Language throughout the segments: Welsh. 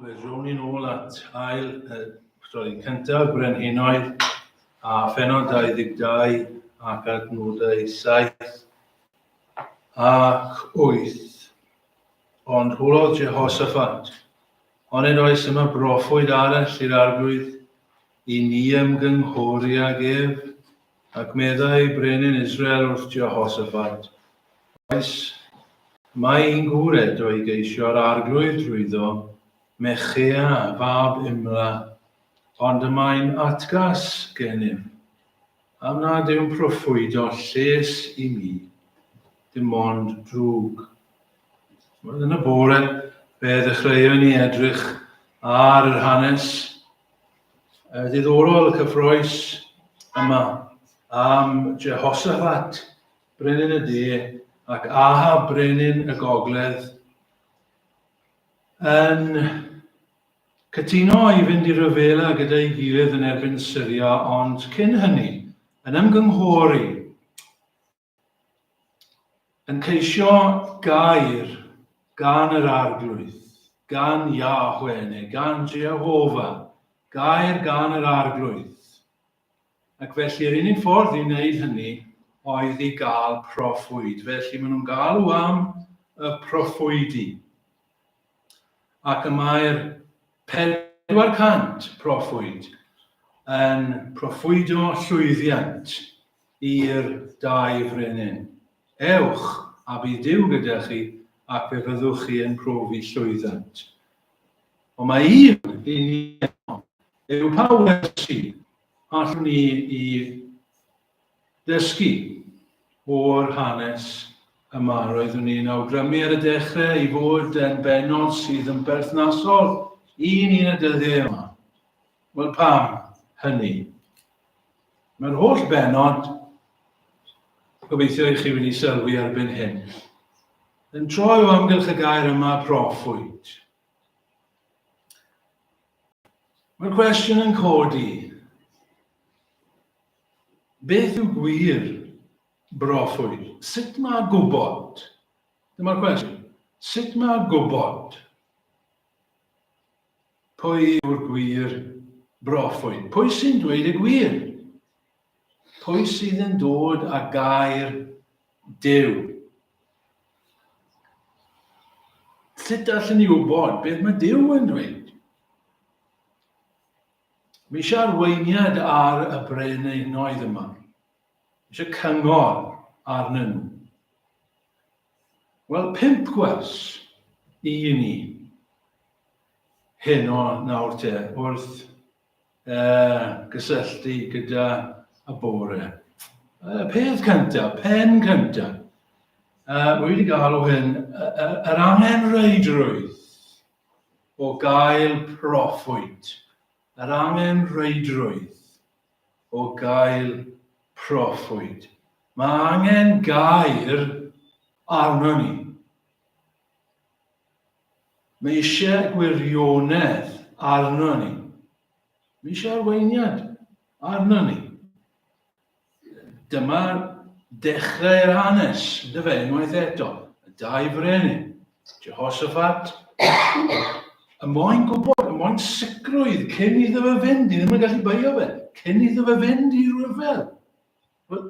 Fe rown ni'n ôl at ail, uh, stori cyntaf, Brenhinoedd, a phenod 22 ac adnodau 7 ac 8. Ond hwlodd Jehoshaphat, ond yn oes yma broffwyd arall i'r arglwydd i ni ymgynghori ag ef, Ac meddai brenin Israel wrth Jehosapat, Oes, mae un gŵr eto i geisio'r Arglwydd drwyddo, Mechea fab Imla, ond y mae'n atgas gennym, am nad yw'n proffwydo lles i mi, dim ond drwg. Wel, yn y bore, fe ddechreuon ni edrych ar yr hanes uh, ddiddorol y cyffroes yma am Jehoshaphat, brenin y de, ac Aha, brenin y gogledd, yn cytuno i fynd i ryfela gyda'i gilydd yn erbyn Syria, ond cyn hynny, yn ymgynghori Yn ceisio gair gan yr Arglwydd, gan Yahweh neu gan Jehovah, gair gan yr Arglwydd. Ac felly'r unig ffordd i wneud hynny oedd i gael proffwyd. Felly maen nhw'n galw am y proffwydi. Ac y mae'r 400 proffwyd yn proffwydo llwyddiant. i'r dau frenin, Ewch, a bu Duw gyda chi, ac fe fyddwch chi yn profi llwyddynt. Ond mae un i ni yno, yw pa wersi allwn ni i ddysgu o'r hanes yma? Roeddwn ni'n awgrymu ar y dechrau i fod yn bennod sydd yn berthnasol i ni yn y dyddiau yma. Wel pam hynny? Mae'r holl benod, gobeithio i chi wedi sylwi erbyn hyn, yn troi o amgylch y gair yma proffwyd. Mae'r cwestiwn yn codi, beth yw gwir broffwyd? Sut mae gwybod? Dyma'r cwestiwn. Sut mae gwybod? Pwy yw'r gwir broffwyd? Pwy sy'n dweud y gwir? Pwy sydd yn dod a gair Dyw? Sut allan ni wybod beth mae Dyw yn dweud? Mi eisiau arweiniad ar y breneunoedd yma. Mi eisiau cyngor arnyn nhw. Wel, pimp gwers i ni. heno nawr te, wrth uh, gysylltu gyda y bore. Uh, peth cynta, pen cynta, uh, wedi galw hyn, yr angenreidrwydd o gael proffwyd. Yr angenreidrwydd o gael proffwyd. Mae angen gair arno ni. Mae eisiau gwirionedd arno ni. Mae eisiau arweiniad arno ni. Dyma dechrau'r hanes, dy fe, unwaith eto. Y dau frenin, Jehoshaphat, y moyn gwybod, y moyn sicrwydd cyn iddo fe fynd, i ddim yn gallu beio fe, cyn iddo fe fynd i ryfel. Wel,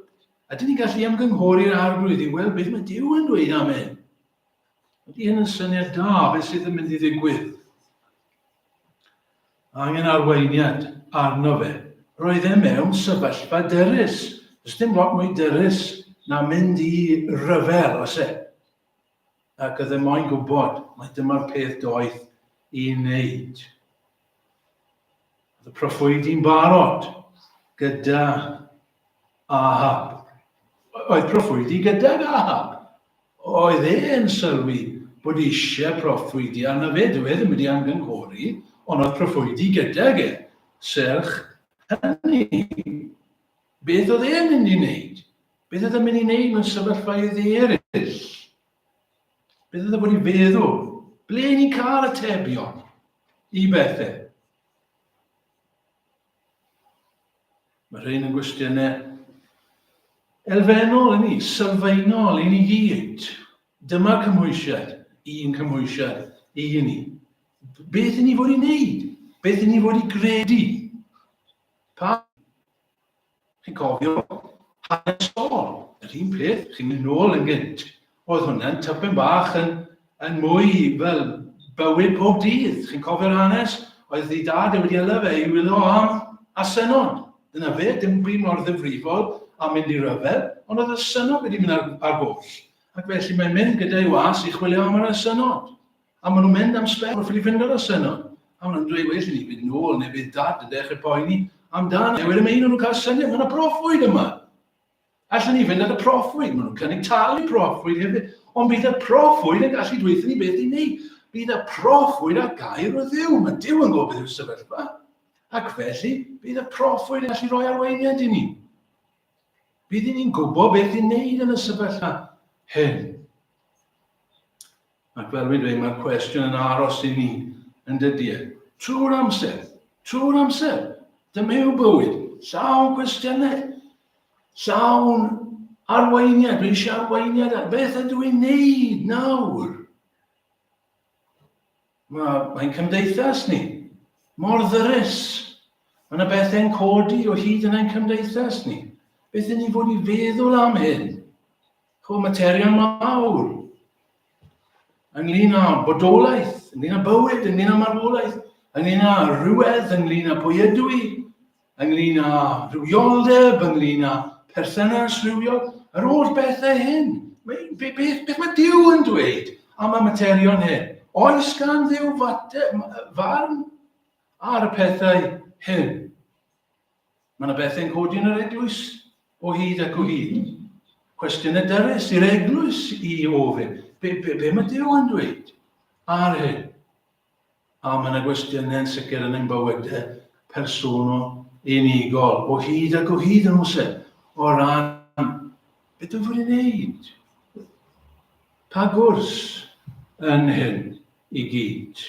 ydyn ni'n gallu ymgynghori'r arglwydd i weld beth mae Dyw yn dweud am hyn? Ydy hyn yn syniad da? Beth sydd yn mynd i ddigwydd? Angen arweiniad arno fe. Roedd e mewn sefyllfa derus. Does dim lot mwy derus na mynd i ryfel, os e. Ac oedd e moyn gwybod, mae dyma'r peth doeth i wneud. Oedd y proffwydi'n barod gyda Ahab. Oedd proffwydi gydag Ahab. Oedd e yn sylwi bod eisiau proffwydi arno fe, dyw e ddim wedi anghynghori, ond oedd proffwydi gydag e. Serch hynny, beth oedd e'n mynd i wneud? Beth oedd e'n mynd i wneud mewn sefyllfaoedd eraill? Beth oedd e wedi feddwl? Ble ni'n cael y tebion i bethau? Mae rhain yn gwestiynau elfennol i ni, sylfaenol i ni gyd. Dyma cymwysiad, un cymwysiad i ni. Beth i ni fod i wneud? Beth i ni fod i gredu? Pa? Chi'n cofio? Hanes Saul, yr un peth, chi'n mynd nôl yn gynt. Oedd hwnna'n typyn bach yn, yn mwy fel bywyd pob dydd. Chi'n cofio'r hanes? Oedd ei dad e wedi yla fe i wylio am a synod. Dyna fe, dim byd mor ddifrifol a mynd i ryfel, ond oedd y synod wedi mynd ar, ar goll. Ac felly mae'n mynd gyda'i was i chwilio am yr synod. A maen nhw'n mynd am sbel wrth i ni fynd ar y seno. A maen nhw'n dweud, well i ni fynd nôl neu bydd dad yn dechrau poeni amdano. A wedyn mae un o'n nhw'n cael syniad, mae yna proffwyd yma. Allen ni fynd ar y proffwyd, maen nhw'n cynnig talu proffwyd hefyd. Ond bydd y proffwyd yn gallu dweithio ni beth i ni. Bydd y proffwyd ar gair o ddiw. Mae diw yn gofyd yw'r sefyllfa. Ac felly, bydd y proffwyd yn gallu rhoi arweiniad i ni. Bydd ni'n gwybod beth i'n neud yn y sefyllfa hyn. Ac fel fi'n dweud, mae'r cwestiwn yn aros i ni, yn dydy e. Trwy'r amser, trwy'r amser. Dyma yw bywyd, llawn cwestiynau, llawn arweiniad, dwi eisiau arweiniad, beth ydw i'n neud nawr? Mae'n mae cymdeithas ni, mor ddyrus. Mae yna bethau'n codi o hyd yn ein cymdeithas ni. Beth yn ni fod i feddwl am hyn? Chw materion mawr ynglyn â bodolaeth, ynglyn â bywyd, ynglyn â marwolaeth, ynglyn â rhywedd, ynglyn â pwy ydw i, ynglyn â rhywioldeb, ynglyn â perthynas rhywiol, yr holl bethau hyn. Beth, beth, beth mae Dyw yn dweud am y materion hyn? Oes gan Ddyw farn ar y pethau hyn? Mae yna bethau yn codi yn yr eglwys o hyd ac o hyd. Cwestiynau dyrus i'r eglwys i ofyn. Be, be, be mae Dyw yn dweud ar hyn? A mae yna gwestiynau yn sicr yn ein bywydau personol unigol o hyd ac o hyd yn oes e? O ran beth ydw i'n wneud? Pa gwrs yn hyn i gyd?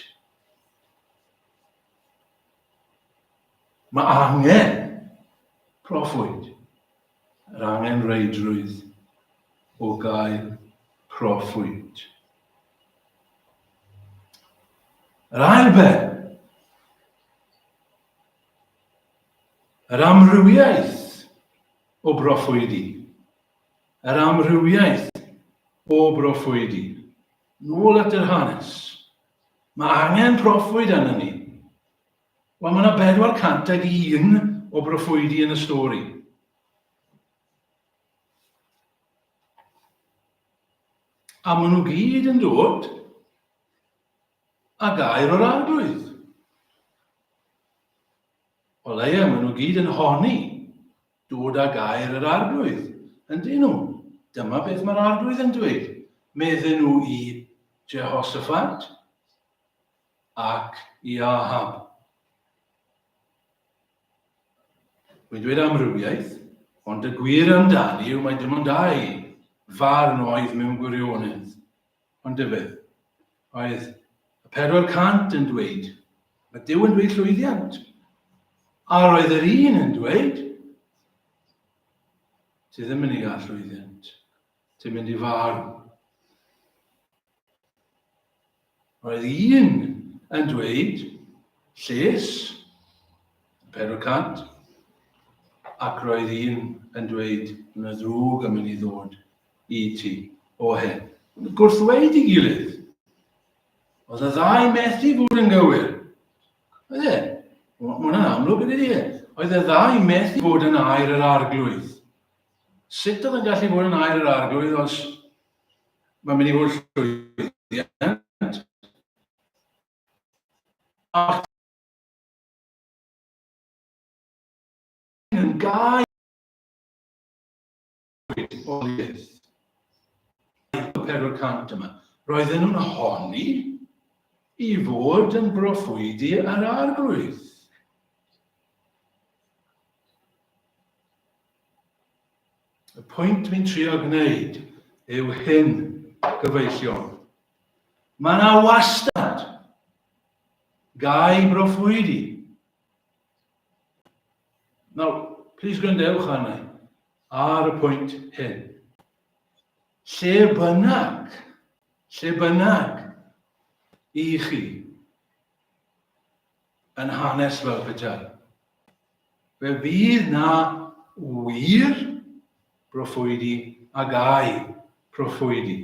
Mae angen proffwyd, yr angenrheidrwydd o gael proffwyd. Yr ail ben, yr amrywiaeth o broffwydi, yr amrywiaeth o broffwydi, nôl at yr hanes, Mae angen proffwyd arnon ni. Wel, mae yna 401 o broffwydi yn y stori. A maen nhw gyd yn dod a gair o'r arglwydd. O leia, maen nhw gyd yn honi Dod â gair yr Arglwydd, yndyn nhw. Dyma beth mae'r Arglwydd yn dweud, medden nhw i Jehoshaphat ac i Ahab. Mae'n dweud amrywiaeth, ond y gwir amdani yw mae dim ond dau farn oedd mewn gwirionedd. Ond dyfed, oedd y pedwar cant yn dweud, mae Dyw yn dweud llwyddiant. A roedd yr un yn dweud, ti ddim yn ei gael llwyddiant, ti'n mynd i farw. Roedd un yn dweud, lles, pedwar cant, ac roedd un yn dweud, yn y ddrwg yn mynd i ddod i ti o hyn. Yn gwrthweid i gilydd. Oedd y ddau methu bod yn gywir. Oedd e? Mae hwnna'n amlwg yn ei Oedd y ddau methu bod yn air yr arglwydd. Sut oedd yn gallu bod yn air yr arglwydd os mae'n mynd i fod llwyddiant? Ac yn gael oedoliaeth. Aeth y pedwar cant yma. Roedden nhw'n honni i fod yn broffwydi ar arglwydd. Y pwynt dwi'n trio gwneud yw hyn, gyfeillion. Mae yna wastad gai broffwydi. Nawr, plis gwrandewch arna i. ar y pwynt hyn. Lle bynnag, lle bynnag i chi yn hanes fel petai, fe fydd na wir broffwydi ag ai proffwydi.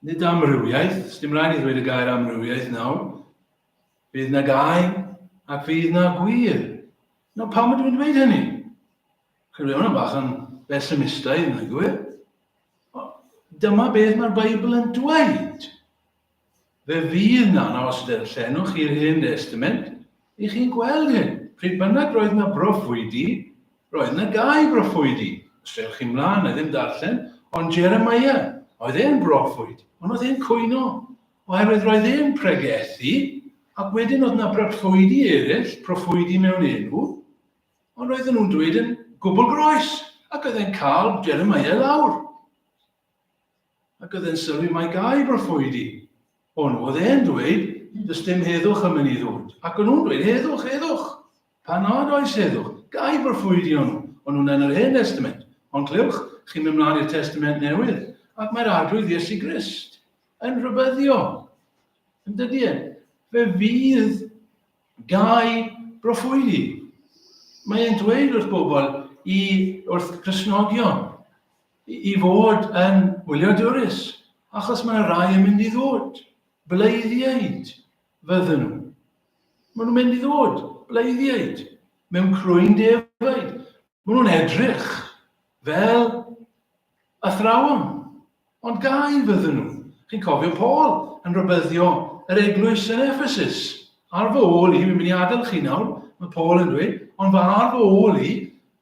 Nid amrywiaeth, sdim rhaid ni ddweud y gair amrywiaeth nawr. Fydd na gau ac fydd na gwir. No, pam ydw i'n dweud hynny? Chi'n rhywun yn bach yn besimistaidd yn y gwyr. Dyma beth mae'r Beibl yn dweud. Fe fydd 'na anawsterau llenwch i'r Hen Destament i chi gweld hyn. Pryd bynnag roedd 'na broffwydi, roedd 'na gau broffwydi. Os dewch chi 'mlaen, na i ddim darllen, ond Jeremiah, oedd e'n broffwyd, ond oedd e'n cwyno, oherwydd roedd e'n pregethu, ac wedyn oedd 'na broffwydi eraill, proffwydi mewn enw, ond roedden nhw'n dweud yn gwbl groes, ac oedd e'n cael Jeremiah lawr. Ac oedd e'n sylwi mai gair broffwydi o'n nhw. Oedd e'n dweud, does dim heddwch am hynny ddwyd. Ac o'n nhw'n dweud, heddwch, heddwch! Pan nad oes heddwch, gair broffwydi o'n nhw. O'n nhw'n yn yr Hen Destament. Ond clywch, chi'n mynd mlaen i'r Testament Newydd, ac mae'r Arglwydd Iesu Grist yn rhybyddio. Yn dydy e? Fe fydd gair broffwydi. Mae e'n dweud wrth bobl, i, wrth Cresnogion, i fod yn wyliadwrus, achos mae yna rai yn mynd i ddod, bleiddiaid fydden nhw. Maen nhw'n mynd i ddod, bleiddiaid, mewn crwyn defaid. Maen nhw'n edrych fel athrawon, ond gau fydden nhw. Chi'n cofio Paul yn rybyddio yr eglwys yn Ephesus. Ar fy ôl i, mi'n mynd i adael chi nawr, mae Paul yn dweud, ond fy ar fy ôl i,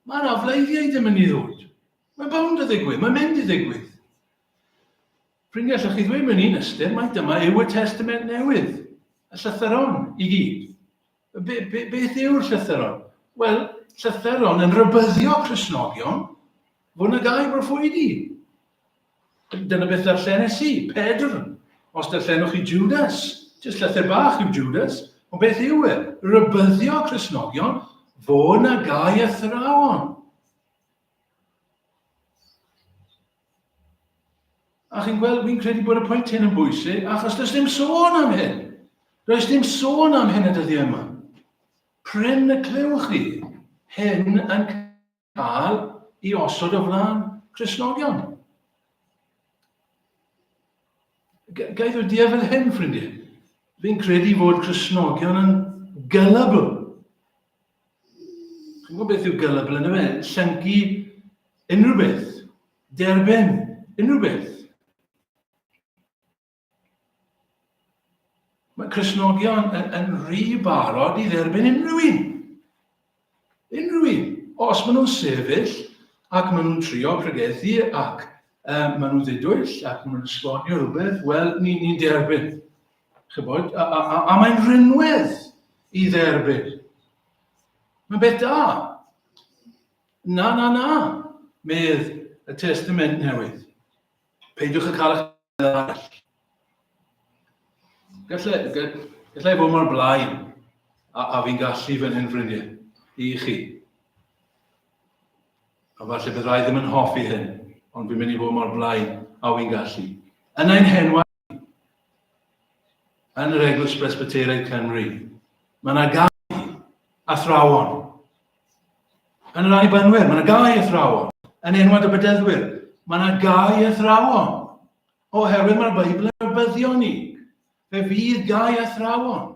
mae yna fleiddiaid yn mynd i ddod. Mae'n bownd y ddigwydd, mae'n mynd i ddigwydd. Ffrindiau, allwch chi ddweud mewn un ystyr, mae dyma yw y testament newydd, y llythyron i gyd. Be, be, beth yw'r llythyron? Wel, llythyron yn rybyddio Cresnogion fod yna gael broffwydi. Dyna beth ddarllenes i, Pedr. Os darllenwch chi Judas, jyst llythyr bach yw Judas, ond beth yw e? Rybyddio Cresnogion fod yna gael athrawon. A chi'n gweld, fi'n credu bod y pwynt hyn yn bwysig, achos does dim sôn am hyn. Does dim sôn am hyn y dyddiau yma. Pryn y clywch chi hyn yn cael i osod o flaen Cresnogion. Gaeth o diafel hyn, ffrindiau. Fi'n credu fod Cresnogion yn gullible. Chi'n gwybod beth yw gullible yn ymwneud? Llyncu unrhyw beth. Derbyn unrhyw beth. Mae Cresnogion yn, yn rhy barod i dderbyn unrhyw un. Unrhyw un. Os maen nhw'n sefyll ac maen nhw'n trio pregethu ac um, maen nhw'n ddidwyll ac maen nhw'n esbonio rhywbeth, wel, ni'n ni derbyn. Chybod, a, a, a, a mae'n rhinwedd i dderbyn. Mae'n beth da. Na, na, na, medd y Testament Newydd. Peidiwch yn cael eich arall. Gallai, gallai bod mor blaen a, a fi'n gallu fy hyn ffrindiau i chi. A falle byddai ddim yn hoffi hyn, ond fi'n mynd i fod mor blaen a fi'n gallu. Yn ein henwau yn yr Eglwys Presbyteraidd Cymru. Mae yna gau athrawon. Yn yr Annibynwyr, mae yna gau athrawon. Yn enwad y bededdwyr, mae yna gau athrawon. Oherwydd mae'r Beibl yn arbyddio ni. Fe fydd gau athrawon.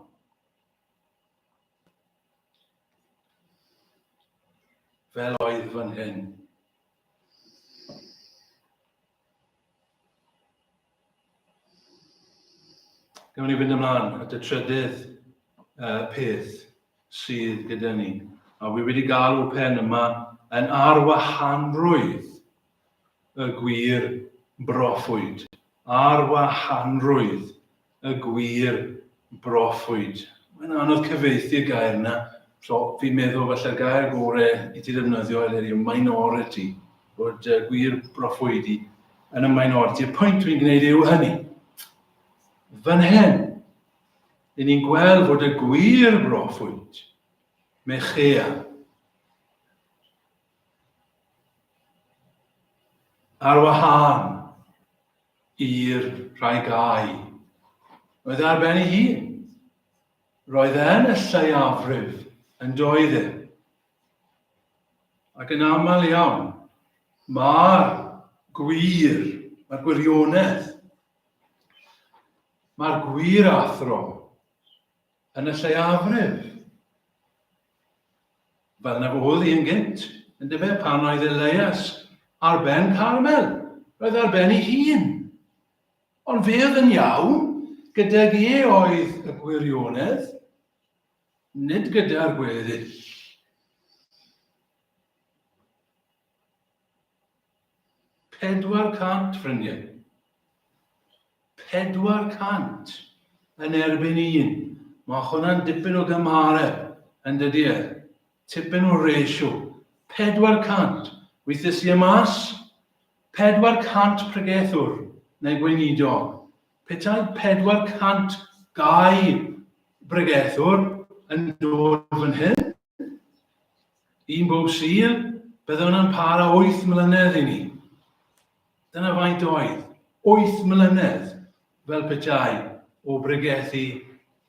Fel oedd fan hyn. Gawn ni fynd ymlaen at y trydydd uh, peth sydd gyda ni. A fi wedi galw pen yma yn arwahanrwydd y gwir broffwyd. Arwahanrwydd Y gwir, broffwyd. Mae'n anodd cyfieithu'r gair yna. So, fi'n meddwl falle'r gair gore i ti ddefnyddio eleni yw minority, bod uh, gwir broffwyd i yn y minority. Y pwynt dwi'n gwneud yw hynny. Fan hyn, i ni'n gweld fod y gwir broffwyd, Mechea, Ar wahân i'r rhai gai, oedd e ar ben ei hun. Roedd e yn y lleiafrif yn doedd e. Ac yn aml iawn, mae'r gwir, mae'r gwirionedd, mae'r gwir athro Yn y lleiafrif, fel na fodd un gynt, yn dyfe, pan oedd Elias ar ben Carmel, roedd ar ben ei hun. Ond fe oedd yn iawn, gydag e oedd y gwirionedd, nid gyda'r gweddill. Pedwar cant, ffrindiau. Pedwar cant yn erbyn un. Mae hwnna'n dipyn o gymhareb, yn dydy e? Tipyn o ratio. Pedwar cant. Weithiau si y mas? Pedwar cant pregethwr, neu gweinidog. Petai pedwar cant gau bregethwr yn dod fan hyn, Un bob sul, bydde hwnna'n para wyth mlynedd i ni. Dyna faint oedd, wyth mlynedd fel petai o bregethu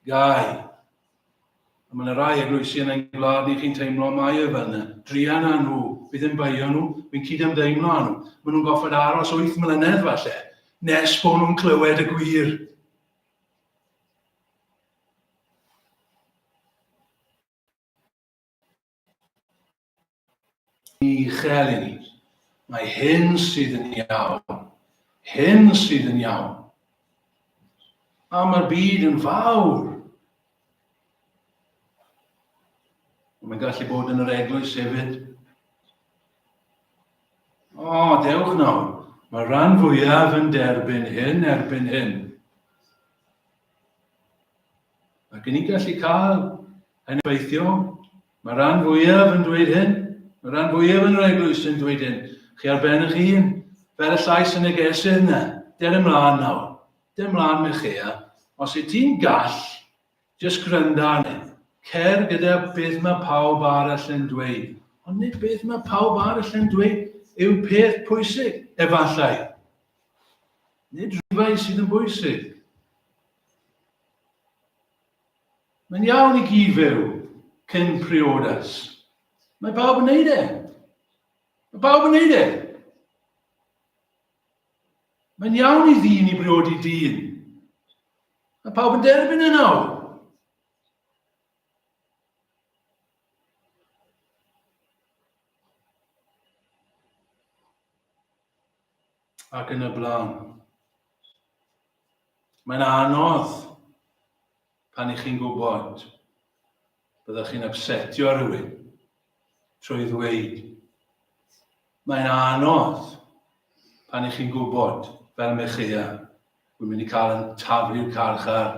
gau. A mae'n rhai eglwysi yn ein gwlad ni chi'n teimlo mai y fel yna. Drian â nhw, fi ddim baio nhw, fi'n cyd ymdeimlo â nhw. Maen nhw'n goffod aros wyth mlynedd falle, nes bod nhw'n clywed y gwir. Ni chel i ni. Mae hyn sydd yn iawn. Hyn sydd yn iawn. A mae'r byd yn fawr. Mae'n gallu bod yn yr eglwys hefyd. O, oh, dewch nawr. Mae rhan fwyaf yn derbyn hyn erbyn hyn. Mae gen i gallu cael yn effeithio. Mae rhan fwyaf yn dweud hyn. Mae rhan fwyaf yn yr eglwys yn dweud hyn. Chi ar ben eich hun, fel y llais yn y gesydd yna. Der ymlaen nawr. Der ymlaen me chea. Os y ti'n gall, jyst gwranda arni. Cer gyda beth mae pawb arall yn dweud. Ond nid beth mae pawb arall yn dweud yw peth pwysig, efallai. Nid rhywbeth sydd yn bwysig. Mae'n iawn i gyd fyw cyn priodas. Mae bawb yn neud e. Mae bawb yn neud e. Mae'n iawn i ddyn i briodi dyn. Mae pawb yn derbyn e nawr. Ac yn y blaen. Mae'n anodd pan ych chi'n gwybod byddwch chi'n upsetio rhywun trwy ddweud. Mae'n anodd pan ych chi'n gwybod, fel Mechea, wy'n mynd i cael yn taflu'r carchar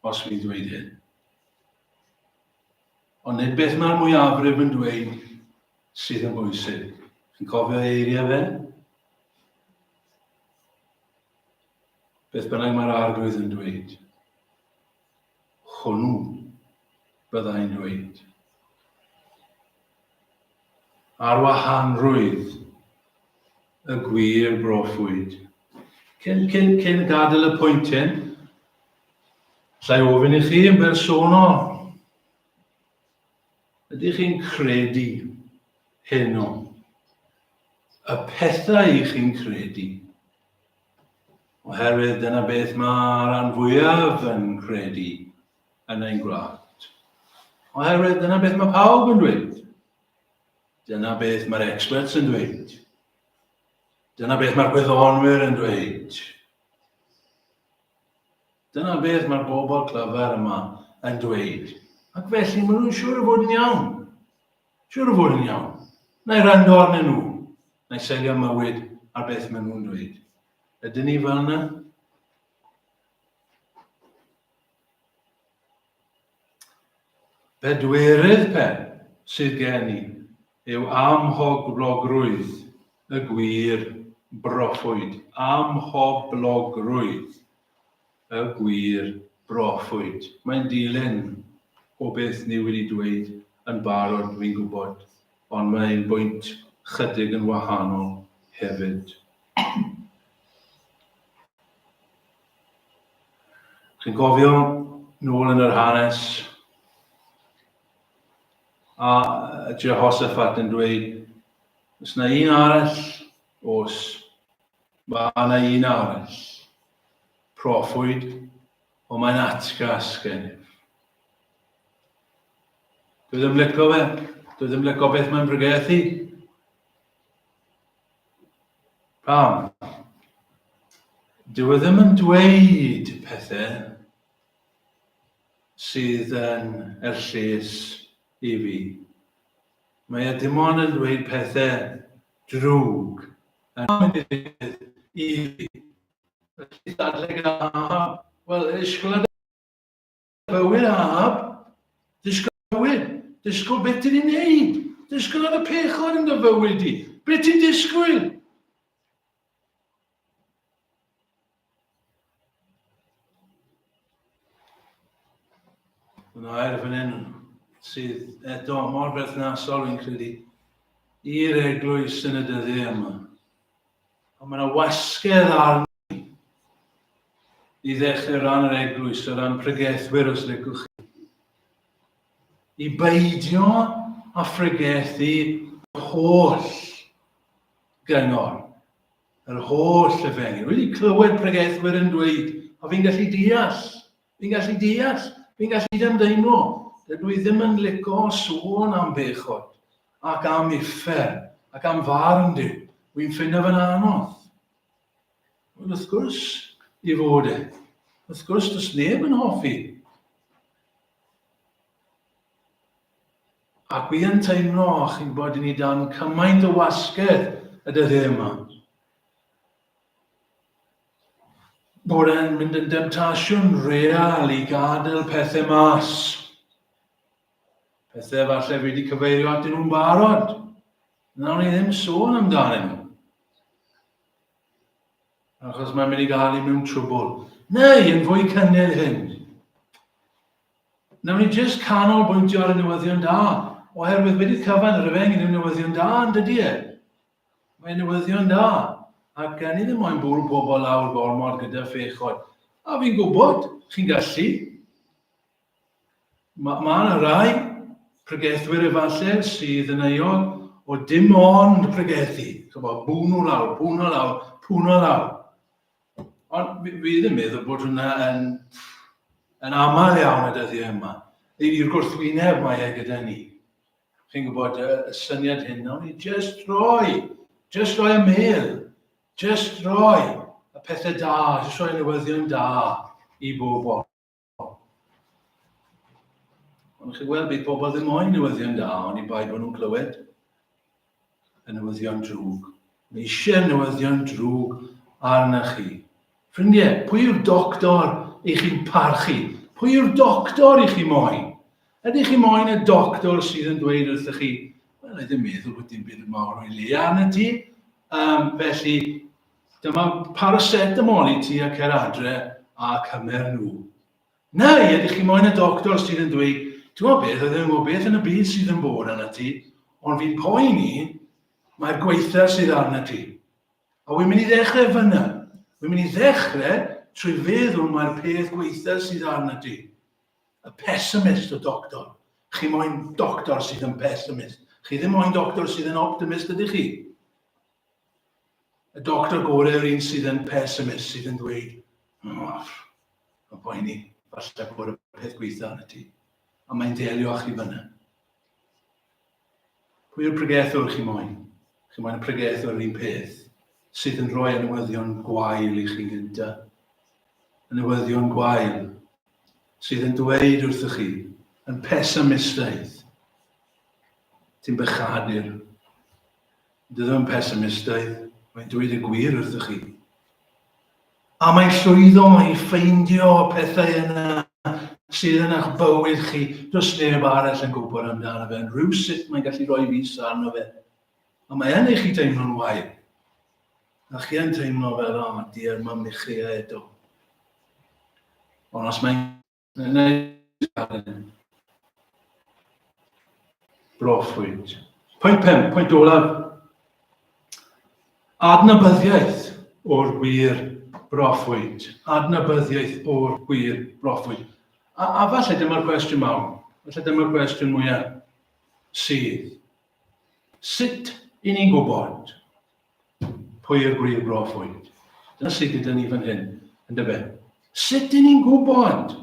os fi'n dweud hyn. Ond nid beth mae'r mwyafrif yn dweud sydd yn bwysig. Chi'n cofio eiriau fe? Beth bynnag mae'r Arglwydd yn dweud, hwnnw byddai'n dweud. Ar wahanrwydd y gwir broffwyd. Cyn, cyn, cyn gadael y pwynt hyn, llai ofyn i chi yn bersonol, ydych chi'n credu hyn o? Y pethau i chi'n credu, Oherwydd dyna beth mae'r rhan fwyaf yn credu yn ein gwlad. Oherwydd dyna beth mae pawb yn dweud. Dyna beth mae'r experts yn dweud. Dyna beth mae'r gwyddonwyr yn dweud. Dyna beth mae'r bobl clyfar yma yn dweud. Ac felly maen nhw'n siŵr o fod yn iawn. Siŵr o fod yn iawn. Na i rando arnyn nhw. Nai selio mywyd ar beth ma nhw'n dweud. Ydyn ni fel yna? Pedwerydd pe sydd gen i yw amhoblogrwydd y gwir broffwyd. Amhoblogrwydd. Y gwir, Broffwyd. Mae'n dilyn o beth ni wedi dweud yn barod, dwi'n gwybod, ond mae ein bwynt 'chydig yn wahanol hefyd. Chi'n cofio, nôl yn yr hanes, a Jehoshaphat yn dweud, os na un arall, os mae yna un arall, Proffwyd, ond mae'n atgas gennyf. Dwi ddim lico fe. Dwi ddim lico beth mae'n brygeth i. Pam? Dwi e ddim yn dweud pethau sydd yn erllus i fi. Mae e dim ond yn dweud pethau drwg yn mynd i ddigwydd i fi. Felly dadle gyda Ahab, Wel, ysgolad bywyd Ahab, dysgol bywyd, dysgol beth ti'n ei wneud, dysgol ar y pechod yn dy fywyd di, beth ti'n disgwyl? Mae'n air fan hyn sydd eto mor berthnasol yn credu i'r eglwys yn y dyddiau yma. Ond mae'n wasgedd arni i ddechrau ran yr eglwys, o ran pregethwyr os licwch chi. I beidio a phregethu holl gyngor Yr holl efengyl. Wedi clywed pregethwyr yn dweud, o fi'n gallu deall, fi'n gallu deall, fi'n gallu dymdeimlo. Dydw i ddim yn lico sôn am bechod ac am uffern ac am farn Duw. Wy'n ffindio fe'n anodd. Ond wrth gwrs, i fod e. Wrth gwrs, does neb yn hoffi. Ac wi yn teimlo, chi'n gwybod, i ni dan cymaint o wasgedd y dyddiau yma. Bod e'n mynd yn demtasiwn real i gadael pethau mas. Pethau falle fi wedi cyfeirio at nhw'n barod. Nawr ni ddim sôn amdanyn nhw. Achos mae'n mynd i gael i mewn trwbl. Neu, yn fwy cynnil hyn, Nawn ni jyst canolbwyntio ar y newyddion da, oherwydd wedi cyfan yr efengyl yw newyddion da yn dydy e. Mae newyddion da, ac ni ddim moyn bwrw pobl lawr gormod gyda phechod. A fi'n gwybod, chi'n gallu. Mae ma yna rai pregethwyr efallai sydd yn euol o dim ond pregethu. Chybod, bwno lawr, pwno lawr, pwno lawr. Ond fi ddim yn meddwl bod hwnna yn, yn aml iawn y dyddiau yma. I'r gwrthwyneb mae e gyda ni. Chi'n gwybod y, y syniad hyn, nawn ni just roi, just roi y mel, just roi y pethau da, just roi newyddion da i bobl. Ond chi weld, bydd pobl ddim moyn newyddion da, ond i bai bod nhw'n clywed y newyddion drwg. Mae eisiau newyddion drwg arna chi. Ffrindiau, pwy yw'r doctor i chi'n parchu? Pwy yw'r doctor i chi moyn? Ydych chi moyn y doctor sydd yn dweud wrthych chi, wel, ddim meddwl bod dim byd yn mawr o'i le arna ti, um, felly Dyma paracetamol i ti a cer adre a cymer nhw. Neu ydych chi moyn y doctor sydd yn dweud, ti'n gwybod beth, oedden nhw'n gwybod beth yn y byd sydd yn bod arna ti, ond fi'n poen i, mae'r gweitha sydd arna ti. A wy'n mynd i ddechrau fyna. Wy'n mynd i ddechrau trwy feddwl mae'r peth gweitha sydd arna ti. Y pessimist o doctor. Chi moyn doctor sydd yn pessimist. Chi ddim moyn doctor sydd yn optimist ydych chi. Y doctor gore yw'r un sydd yn pessimist, sydd yn dweud, Off, y boeni, falle bod y peth gweitha yn y ti. A mae'n delio â chi fyna. Pwy yw'r pregethwr chi moyn? Chi moyn y pregethwr yr un peth sydd yn rhoi anwyddion gwael i chi gynta. Anwyddion gwael sydd yn dweud wrthych chi, yn pesamistaidd, ti'n bychadur, Dydw yn pessimistaidd, mae'n dweud y gwir wrthych chi. A mae'n llwyddo i ffeindio pethau yna sydd yn eich bywyd chi, does neb arall yn gwybod amdano fe, yn rhyw sut mae'n gallu rhoi fus arno fe. A mae yn eich i deimlo'n wael. A chi yn teimlo fel, o, dier, mae'n michio eto. Ond os mae'n Yn ei galen. Broffwyd. Pwynt 5, pwynt olaf. Adnabyddiaeth o'r gwir broffwyd. Adnabyddiaeth o'r gwir broffwyd. A, a falle dyma'r cwestiwn mawr. Falle dyma'r cwestiwn mwyaf sydd. Sut i ni'n gwybod Pwy yw'r gwir broffwyd? Dyna sydd gyda ni fan hyn, yn dyfe? Sut dyn ni'n gwybod?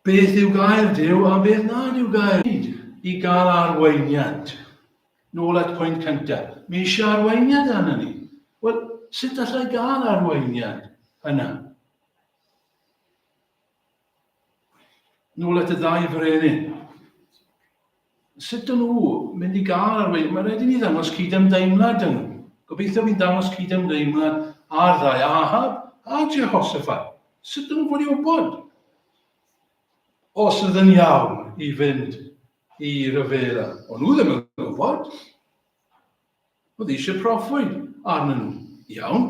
Beth yw gair Dyw a beth nad yw gair Dyw? I gael arweiniad. Nôl at pwynt cyntaf. Mi eisiau arweiniad arno ni. Wel, sut allai gael arweiniad yna? Nôl at y ddau frenin. Sut dyn nhw mynd i gael ar wedi? Mae rhaid i ni ddangos cyd-ymdeimlad yn nhw. Gobeithio fi'n dangos cyd-ymdeimlad ar ddau Ahab a Jehoshaphat. Sut dyn nhw fod i wybod? Os ydyn iawn i fynd i ryfela. Ond nhw ddim yn gwybod. Oedd hi eisiau proffwyd arnyn nhw. Iawn.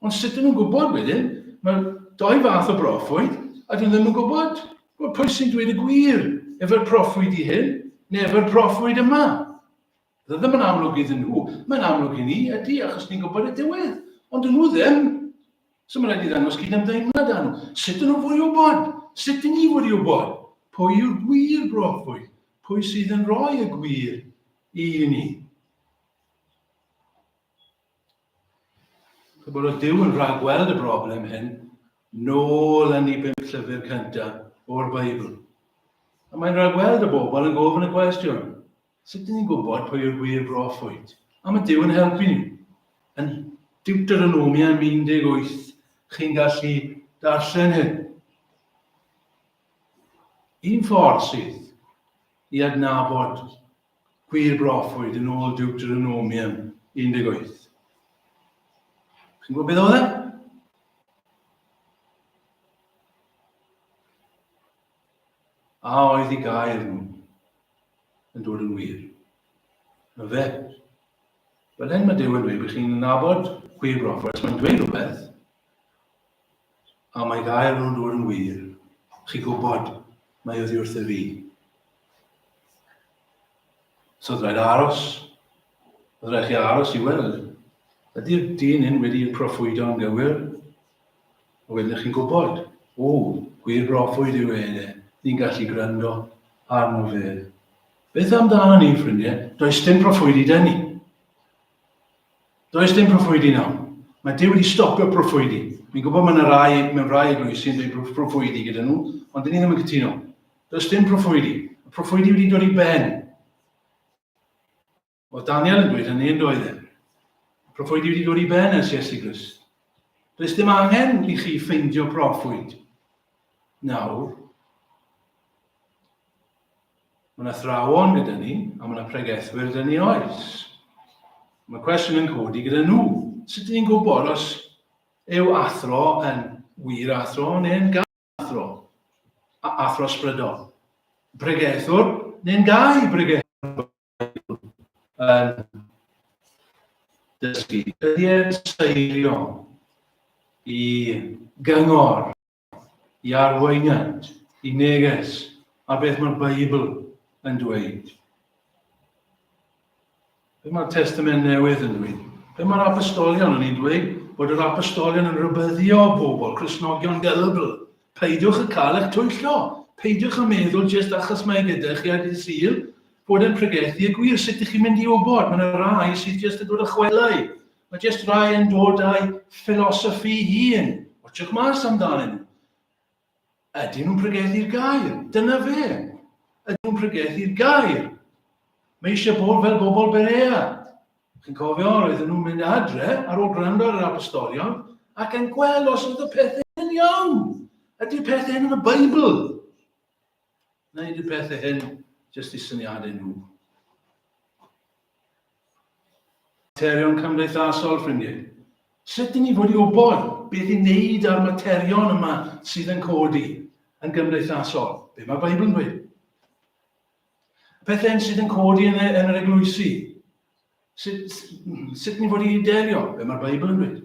Ond sut ydyn nhw'n gwybod wedyn? Mae doi fath o broffwyd, a dyn nhw ddim yn gwybod. Wel, pwy sy'n dweud y gwir? Efo'r proffwyd i hyn, neu efo'r proffwyd yma? Dda ddim yn amlwg iddyn nhw. Mae'n amlwg i ni, ydy, achos ni'n gwybod y diwedd. Ond dyn nhw ddim. So mae'n rhaid i ddangos gyd am deimlad â nhw. Sut dyn nhw'n fwy o bod? Sut dyn ni wedi o bod? Pwy yw'r gwir broffwyd? Pwy sydd yn rhoi y gwir I ni. Pobl o Dyw yn rhag gweld y broblem hyn, nôl yn ei bum llyfr cyntaf o'r Beibl. A mae'n rhag gweld y bobl yn gofyn y cwestiwn, sut dyn ni'n gwybod pwy yw'r gwir broffwyd? A mae Dyw yn helpu ni. Yn Deuteronomia 18, chi'n gallu darllen hyn. Un ffordd sydd i adnabod gwir broffwyd yn ôl Deuteronomium 18. Chi'n gwybod beth oedd e? A oedd i gael nhw yn dod yn wir? Na fe. Fel hyn mae Dyw yn dweud bod chi'n nabod gwir broffwyd, mae'n dweud rhywbeth, A mae gair nhw'n dod yn wir. Chi gwybod, mae oddi wrth y fi. So oedd rhaid aros. Oedd rhaid chi aros i weld. Ydy'r dyn hyn wedi proffwydo yn gywir? A wedyn chi'n gwybod, o, gwir broffwyd yw e, e. Ni'n gallu gwrando arno fe. Beth amdano ni, ffrindiau? Does dim proffwydi dyn ni. Does dim proffwydi nawr. Mae Duw wedi stopio proffwydi. Fi'n gwybod mae yna rai mewn rai eglwysi sy'n dweud proffwydi gyda nhw, ond dyn ni ddim yn cytuno. Does dim proffwydi. Y proffwydi wedi dod i ben. Oedd Daniel yn dweud hynny yn doedd e. Proffwydi wedi dod i ben ers Iesu Grist. Does dim angen i chi ffeindio proffwyd. Nawr, Mae yna thrawon gyda ni, a mae yna pregethwyr gyda ni oes. Mae cwestiwn yn codi gyda nhw. Sut ni'n gwybod os yw athro yn wir athro neu'n gael athro? A athro sbrydol. Pregethwr neu'n gael pregethwr yn dysgu. Ydy e'n seiriol i gyngor i arweiniant, i neges, a beth mae'r Beibl yn dweud. Be mae'r Testament Newydd yn dweud? Be mae'r apostolion yn ei dweud? Bod yr apostolion yn rhybyddio bobl, Cresnogion delbl. Peidiwch y cael eich twyllo. Peidiwch y meddwl jyst achos mae gyda chi a dydd syl bod yn pregethu y gwir. Sut ydych chi'n mynd i wybod? Mae'n rhai sydd jyst yn dod â chwelau Mae jyst rhai yn dod â'u ffilosoffi hun. Watsiwch mas amdanyn nhw. Ydyn nhw'n pregethu'r gair? Dyna fe. Ydyn nhw'n pregethu'r gair? Mae eisiau bod fel bobl Berea. Chi'n cofio, roedden nhw'n mynd adre ar ôl gwrando ar yr apostolion ac yn gweld os oedd y pethau yn iawn. Ydy'r pethau hyn yn y Beibl? Wneud y pethau hyn jyst i syniadau nhw. Materion cymdeithasol, ffrindiau. Sut dyn ni fod i wybod beth i wneud â'r materion yma sydd yn codi yn gymdeithasol? Be mae Beibl yn dweud? Pethau sydd yn codi yn, yn yr eglwysi. Sut, sut ni fod i delio? Be mae'r Beibl yn dweud?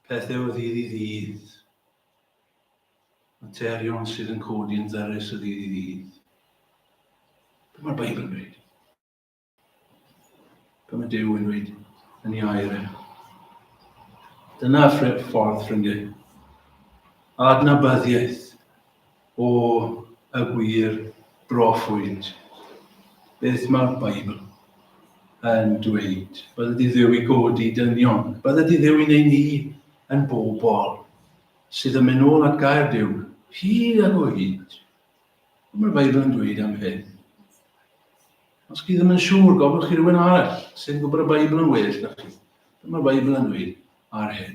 Pethau o ddydd i ddydd. Materion sydd yn codi yn ddyrus o ddydd i ddydd. Be mae'r Beibl yn dweud? Be mae Dyw yn dweud yn ei air e? Dyna ffordd ffrindiau. Adnabyddiaeth o y gwir broffwyd. Beth mae'r Beibl yn dweud? Bydde di ddew i godi dynion. Bydde di ddew i wneud ni yn bobl Sydd yn mynd nôl at Gaerdyw, hyd ac o hyd. Ond mae'r Beibl yn dweud am hyn. Os chi ddim yn siŵr, gofyn chi rhywun arall sy'n gwybod y Beibl yn well na chi. Dyma'r Beibl yn dweud ar hyn.